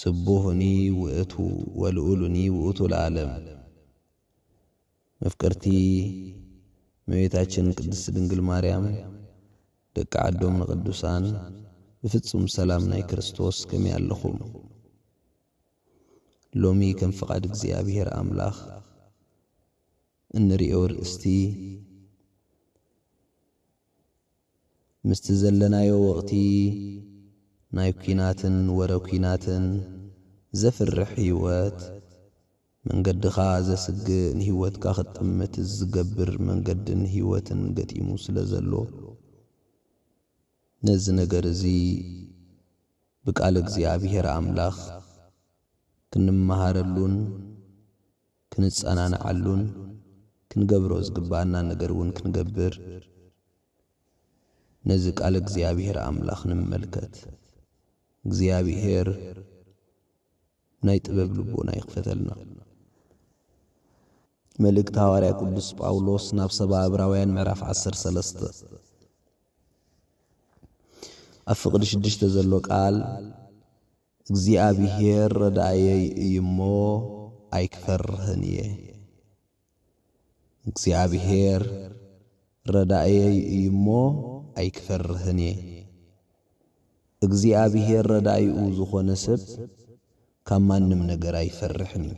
ስቡሁኒ ውእቱ ወልኡሉኒ ውእቱ ለዓለም መፍቅርቲ እመቤታችን ቅድስት ድንግል ማርያም ደቂ ዓዶም ንቅዱሳን ብፍጹም ሰላም ናይ ክርስቶስ ከመይ ኣለኹም ሎሚ ከም ፍቃድ እግዚኣብሔር ኣምላኽ እንርእዮ ርእስቲ ምስቲ ዘለናዮ ወቕቲ ናይ ኩናትን ወረ ኩናትን ዘፍርሕ ህይወት፣ መንገድኻ ዘስግእ ንህይወትካ ክትጥምት ዝገብር መንገድን ህይወትን ገጢሙ ስለ ዘሎ፣ ነዚ ነገር እዚ ብቃል እግዚኣብሄር ኣምላኽ ክንመሃረሉን፣ ክንጸናንዓሉን ክንገብሮ ዝግብኣናን ነገር እውን ክንገብር ነዚ ቃል እግዚኣብሄር ኣምላኽ ንመልከት። እግዚኣብሄር ናይ ጥበብ ልቦና ይኽፈተልና። መልእክቲ ሃዋርያ ቅዱስ ጳውሎስ ናብ ሰባ ዕብራውያን ምዕራፍ ዓሰርተ ሰለስተ ኣብ ፍቕዲ ሽዱሽተ ዘሎ ቃል እግዚኣብሄር ረዳእየይ እዩ እሞ ኣይክፈርህን እየ። እግዚኣብሄር ረዳእየይ እዩ እሞ ኣይክፈርህን እየ። እግዚኣብሄር ረዳኢኡ ዝኾነ ሰብ ካብ ማንም ነገር ኣይፈርሕን እዩ።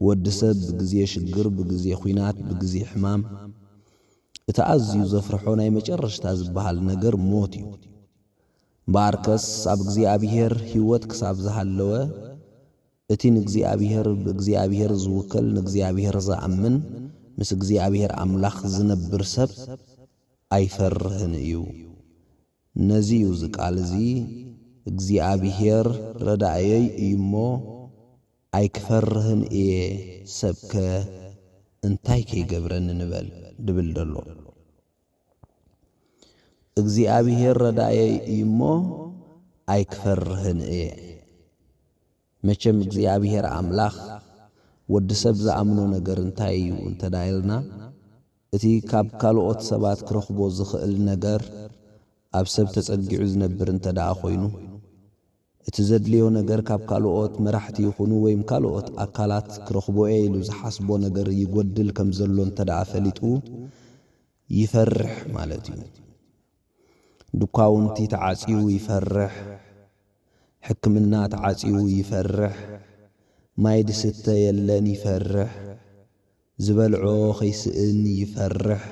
ወዲ ሰብ ብግዜ ሽግር፣ ብግዜ ኹናት፣ ብግዜ ሕማም እቲ ኣዝዩ ዘፍርሖ ናይ መጨረሽታ ዝበሃል ነገር ሞት እዩ። እምበኣርከስ ኣብ እግዚኣብሄር ህይወት ክሳብ ዝሃለወ፣ እቲ ንእግዚኣብሄር ብእግዚኣብሄር ዝውከል ንእግዚኣብሄር ዝኣምን ምስ እግዚኣብሄር ኣምላኽ ዝነብር ሰብ ኣይፈርህን እዩ። ነዚ እዩ እዚ ቃል እዚ እግዚኣብሄር ረዳእየይ እዩ እሞ ኣይክፈርህን እየ ሰብከ እንታይ ከይገብረኒ ንበል ድብል ዘሎ። እግዚኣብሄር ረዳኤይ እዩ እሞ ኣይክፈርህን እየ። መቸም እግዚኣብሄር ኣምላኽ ወዲ ሰብ ዝኣምኖ ነገር እንታይ እዩ እንተ ኢልና እቲ ካብ ካልኦት ሰባት ክረኽቦ ዝኽእል ነገር ኣብ ሰብ ተጸጊዑ ዝነብር እንተ ደኣ ኮይኑ እቲ ዘድልዮ ነገር ካብ ካልኦት መራሕቲ ይኹኑ ወይም ካልኦት ኣካላት ክረኽቦ'የ ኢሉ ዝሓስቦ ነገር ይጎድል ከም ዘሎ እንተድኣ ፈሊጡ ይፈርሕ ማለት'ዩ። ዱካውንቲ ተዓጽዩ ይፈርሕ፣ ሕክምና ተዓጽዩ ይፈርሕ፣ ማይ ዝስተ የለን ይፈርሕ፣ ዝበልዖ ከይስእን ይፈርሕ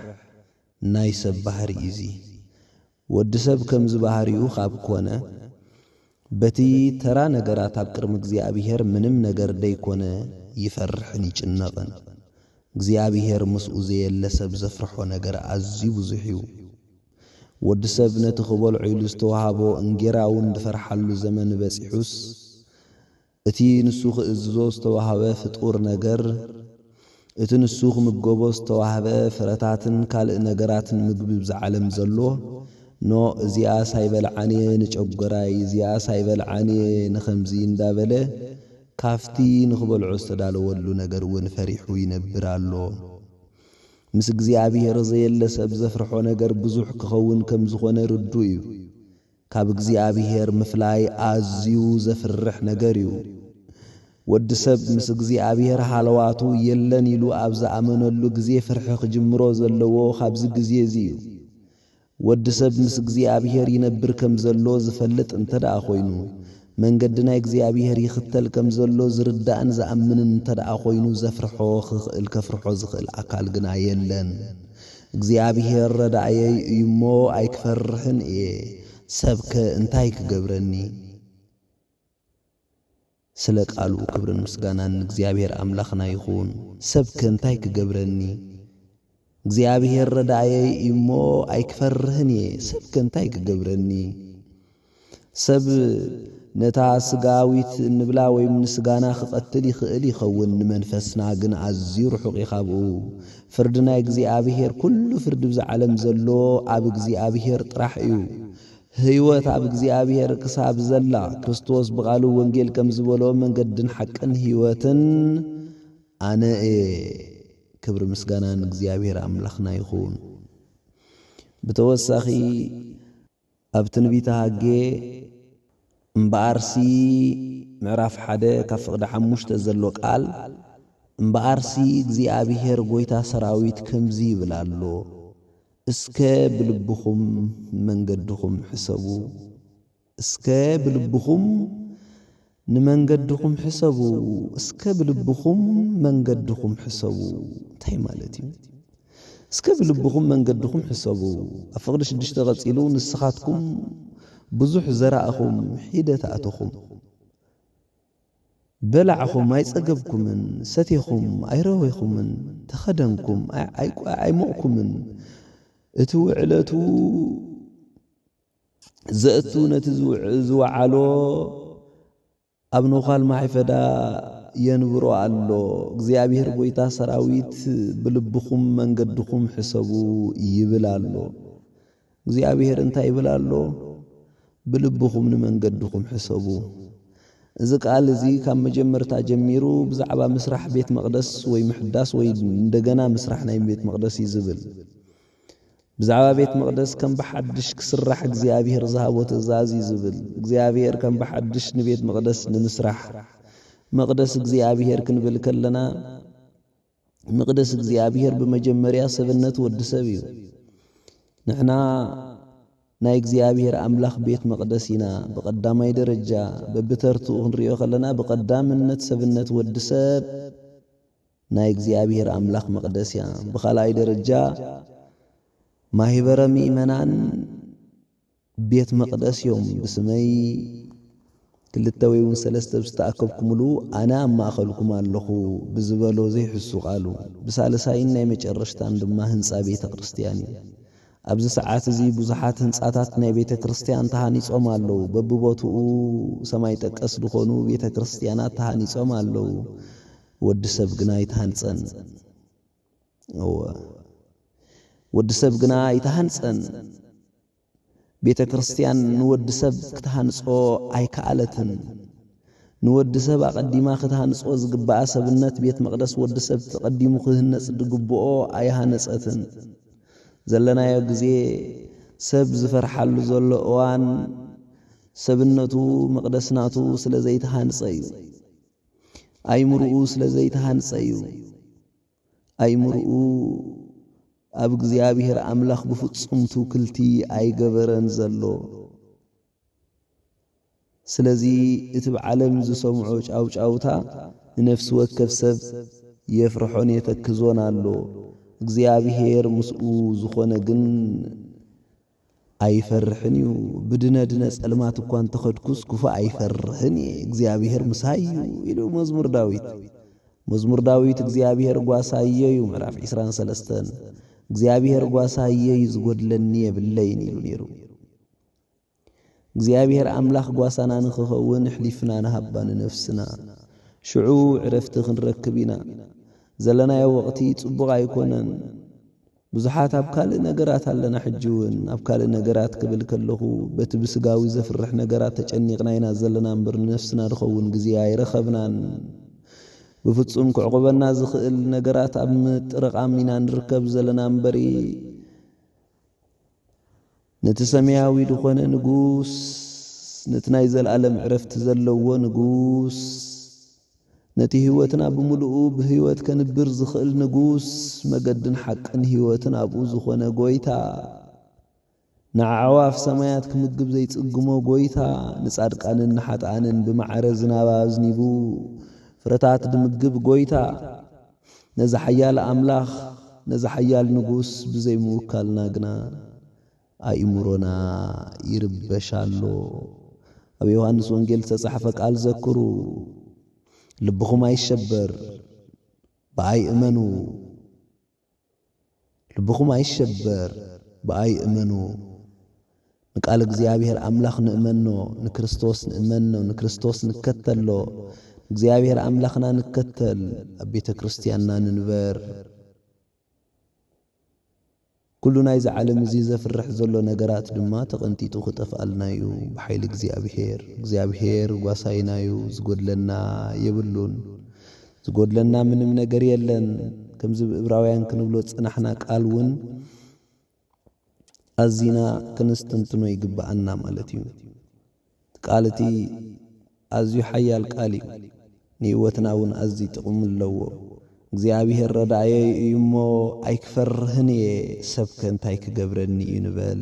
ናይ ሰብ ባህሪ'ዩ'ዚ። ወዲ ሰብ ከምዚ ባህሪኡ ካብ ኮነ፣ በቲ ተራ ነገራት ኣብ ቅድሚ እግዚኣብሄር ምንም ነገር ደይኮነ ይፈርሕን ይጭነቕን። እግዚኣብሄር ምስኡ ዘየለ ሰብ ዘፍርሖ ነገር ኣዝዩ ብዙሕ እዩ። ወዲ ሰብ ነቲ ክበልዖ ኢሉ ዝተዋህቦ እንጌራ'ውን ድፈርሓሉ ዘመን በጺሑስ፣ እቲ ንሱ ኺእዝዞ ዝተዋህበ ፍጡር ነገር፣ እቲ ንሱ ኺምገቦ ዝተዋህበ ፍረታትን ካልእ ነገራትን ምግቢ እብዛ ዓለም ዘሎ፣ ን እዚኣስ ኣይበልዓን እየ ንጨጐራይ፣ እዚኣስ ኣይበልዓን እየ ንኸምዚ እንዳ በለ፣ ካብቲ ንኺበልዖ ዝተዳለወሉ ነገር እውን ፈሪሑ ይነብር ኣሎ። ምስ እግዚኣብሄር ዘየለ ሰብ ዘፍርሖ ነገር ብዙሕ ኪኸውን ከም ዝዀነ ርዱእ እዩ። ካብ እግዚኣብሄር ምፍላይ ኣዝዩ ዘፍርሕ ነገር እዩ። ወዲ ሰብ ምስ እግዚኣብሄር ሃለዋቱ የለን ኢሉ ኣብ ዝኣመነሉ ግዜ ፍርሒ ክጅምሮ ዘለዎ ካብዚ ግዜ እዚ እዩ። ወዲ ሰብ ምስ እግዚኣብሄር ይነብር ከም ዘሎ ዝፈልጥ እንተድኣ ኮይኑ፣ መንገዲ ናይ እግዚኣብሄር ይኽተል ከም ዘሎ ዝርዳእን ዝኣምንን እንተድኣ ኮይኑ ዘፍርሖ ክኽእል ከፍርሖ ዝኽእል ኣካል ግና የለን። እግዚኣብሄር ረዳእየይ እዩሞ ኣይክፈርሕን እየ፣ ሰብከ እንታይ ክገብረኒ? ስለ ቃሉ ክብርን ምስጋናን ንእግዚኣብሄር ኣምላኽና ይኹን። ሰብከ እንታይ ክገብረኒ? እግዚኣብሄር ረዳእየይ እዩሞ ኣይክፈርህን እየ፣ ሰብከ እንታይ ክገብረኒ? ሰብ ነታ ስጋዊት እንብላ ወይም ንስጋና ክቐትል ይኽእል ይኸውን ንመንፈስና ግን ኣዝዩ ርሑቕ እዩ ካብኡ። ፍርዲ ናይ እግዚኣብሄር ኩሉ ፍርዲ ብዛ ዓለም ዘሎ ኣብ እግዚኣብሄር ጥራሕ እዩ። ህይወት ኣብ እግዚኣብሄር ክሳብ ዘላ ክርስቶስ ብቓሉ ወንጌል ከም ዝበሎ መንገድን ሓቅን ህይወትን ኣነ እየ። ክብሪ ምስጋና ንእግዚኣብሄር ኣምላኽና ይኹን። ብተወሳኺ ኣብ ትንቢተ ሃጌ እምበኣርሲ ምዕራፍ ሓደ ካብ ፍቕዲ ሓሙሽተ ዘሎ ቃል እምበኣርሲ እግዚኣብሄር ጐይታ ሰራዊት ከምዚ ይብል ኣሎ፣ እስከ ብልብኹም መንገድኹም ሕሰቡ፣ እስከ ብልብኹም ንመንገድኹም ሕሰቡ እስከ ብልብኹም መንገድኹም ሕሰቡ እንታይ ማለት እዩ? እስከ ብልብኹም መንገድኹም ሕሰቡ ኣብ ፍቕዲ ሽዱሽተ ቀጺሉ ንስኻትኩም ብዙሕ ዘራእኹም ሒደት ኣእተኹም በላዕኹም ኣይጸገብኩምን ሰቴኹም ኣይረዌኹምን ተኸደንኩም ኣይሞቕኩምን እቲ ውዕለቱ ዘእቱ ነቲ ዝወዓሎ ኣብ ነዃል ማይፈዳ የንብሮ ኣሎ። እግዚኣብሔር ጐይታ ሰራዊት ብልብኹም መንገድኹም ሕሰቡ ይብል ኣሎ። እግዚኣብሔር እንታይ ይብል ኣሎ? ብልብኹም ንመንገድኹም ሕሰቡ። እዚ ቃል እዚ ካብ መጀመርታ ጀሚሩ ብዛዕባ ምስራሕ ቤት መቕደስ ወይ ምሕዳስ ወይ እንደገና ምስራሕ ናይ ቤት መቕደስ እዩ ዝብል። ብዛዕባ ቤት መቕደስ ከም ብሓድሽ ክስራሕ እግዚኣብሄር ዝሃቦ ትእዛዝ እዩ ዝብል። እግዚኣብሄር ከም ብሓድሽ ንቤት መቕደስ ንምስራሕ፣ መቕደስ እግዚኣብሄር ክንብል ከለና፣ መቕደስ እግዚኣብሄር ብመጀመርያ ሰብነት ወዲ ሰብ እዩ። ንሕና ናይ እግዚኣብሄር ኣምላኽ ቤት መቕደስ ኢና። ብቐዳማይ ደረጃ፣ በብተርትኡ ክንሪኦ ከለና፣ ብቐዳምነት ሰብነት ወዲ ሰብ፣ ናይ እግዚኣብሔር ኣምላኽ መቕደስ እያ። ብኻልኣይ ደረጃ ማኅበረ ምእመናን ቤት መቕደስ እዮም። ብስመይ ክልተ ወይውን ሰለስተ ብዝተኣከብኩምሉ ኣነ ኣብ ማእኸልኩም ኣለኹ ብዝበሎ ዘይሕሱ ቃሉ ብሳልሳይን ናይ መጨረሽታን ድማ ህንፃ ቤተ ክርስቲያን እዩ። ኣብዚ ሰዓት እዚ ብዙሓት ህንፃታት ናይ ቤተ ክርስቲያን ተሃኒፆም ኣለዉ። በብቦትኡ ሰማይ ጠቀስ ዝኾኑ ቤተ ክርስቲያናት ተሃኒፆም ኣለዉ። ወዲ ሰብ ግና ኣይተሃንጸን። እወ፣ ወዲ ሰብ ግና ኣይተሃንጸን። ቤተ ክርስቲያን ንወዲ ሰብ ክትሃንጾ ኣይከኣለትን። ንወዲ ሰብ ኣቐዲማ ክትሃንጾ ዝግብኣ ሰብነት ቤት መቕደስ ወዲ ሰብ ተቐዲሙ ክህነጽ ዝግብኦ ኣይሃነጸትን። ዘለናዮ ግዜ ሰብ ዝፈርሓሉ ዘሎ እዋን ሰብነቱ መቕደስ ናቱ ስለ ዘይተሃንጸ እዩ። ኣእምርኡ ስለ ዘይተሃንጸ እዩ። ኣእምርኡ ኣብ እግዚኣብሔር ኣምላኽ ብፍጹም ትውክልቲ ኣይገበረን ዘሎ። ስለዚ እቲ ብ ዓለም ዝሰምዖ ጫውጫውታ ንነፍሲ ወከፍ ሰብ የፍርሖን የተክዞን ኣሎ። እግዚኣብሔር ምስኡ ዝኾነ ግን ኣይፈርሕን እዩ ብድነ ድነ ጸልማት እኳ እንተ ኸድኩስ ክፉእ ኣይፈርሕን እየ እግዚኣብሄር ምሳይ እዩ ኢሉ መዝሙር ዳዊት መዝሙር ዳዊት እግዚኣብሄር ጓሳየ እዩ ምዕራፍ ዒስራን ሰለስተን እግዚኣብሄር ጓሳየ እዩ ዝጐድለኒ የብለይን ኢሉ ነይሩ እግዚኣብሄር ኣምላኽ ጓሳና ንኽኸውን ኣሕሊፍና ንሃባ ንነፍስና ሽዑ ዕረፍቲ ክንረክብ ኢና። ዘለናዮ ወቕቲ ጽቡቕ ኣይኮነን። ብዙሓት ኣብ ካልእ ነገራት ኣለና ሕጂ ውን ኣብ ካልእ ነገራት ክብል ከለኹ በቲ ብስጋዊ ዘፍርሕ ነገራት ተጨኒቕና ኢና ዘለና እምበር ንነፍስና ንኸውን ግዜ ኣይረኸብናን ብፍጹም ክዕቑበና ዝኽእል ነገራት ኣብ ምጥርቓም ኢና ንርከብ ዘለና እምበሪ ነቲ ሰማያዊ ዝኾነ ንጉስ፣ ነቲ ናይ ዘለኣለም ዕረፍቲ ዘለዎ ንጉስ፣ ነቲ ሕይወትና ብምሉኡ ብሕይወት ከንብር ዝኽእል ንጉስ፣ መገድን ሓቅን ሕይወትን ኣብኡ ዝኾነ ጎይታ፣ ንኣዕዋፍ ሰማያት ክምግብ ዘይጽግሞ ጎይታ፣ ንጻድቃንን ንሓጥኣንን ብማዕረ ዝናብ ኣዝኒቡ ፍረታት ድምግብ ጎይታ፣ ነዚ ሓያል ኣምላኽ ነዚ ሓያል ንጉስ ብዘይ ምውካልና ግና ኣእምሮና ይርበሽ ኣሎ። ኣብ ዮሃንስ ወንጌል ዝተጻሕፈ ቃል ዘክሩ፣ ልብኹም ኣይሸበር፣ ብኣይ እመኑ። ልብኹም ኣይሸበር ብኣይ እመኑ ንቃል እግዚኣብሔር ኣምላኽ ንእመኖ ንክርስቶስ ንእመኖ ንክርስቶስ ንከተሎ ንእግዚኣብሔር ኣምላኽና ንከተል ኣብ ቤተ ክርስትያንና ንንበር ኩሉ ናይዚ ዓለም እዚ ዘፍርሕ ዘሎ ነገራት ድማ ተቐንጢጡ ክጠፍኣልና እዩ ብሓይሊ እግዚኣብሔር እግዚኣብሔር ጓሳይና እዩ ዝጎድለና የብሉን ዝጎድለና ምንም ነገር የለን ከምዚ ብ እብራውያን ክንብሎ ዝጸናሕና ቃል ውን ኣዚና ክንስትንትኖ ይግብኣና ማለት እዩ እቲ ቃል እቲ ኣዝዩ ሓያል ቃል እዩ ንህይወትና ውን ኣዝዩ ጥቅሚ ኣለዎ እግዚኣብሄር ረዳኣየይ እዩ እሞ ኣይክፈርህን እየ ሰብከ እንታይ ክገብረኒ እዩ ንበል።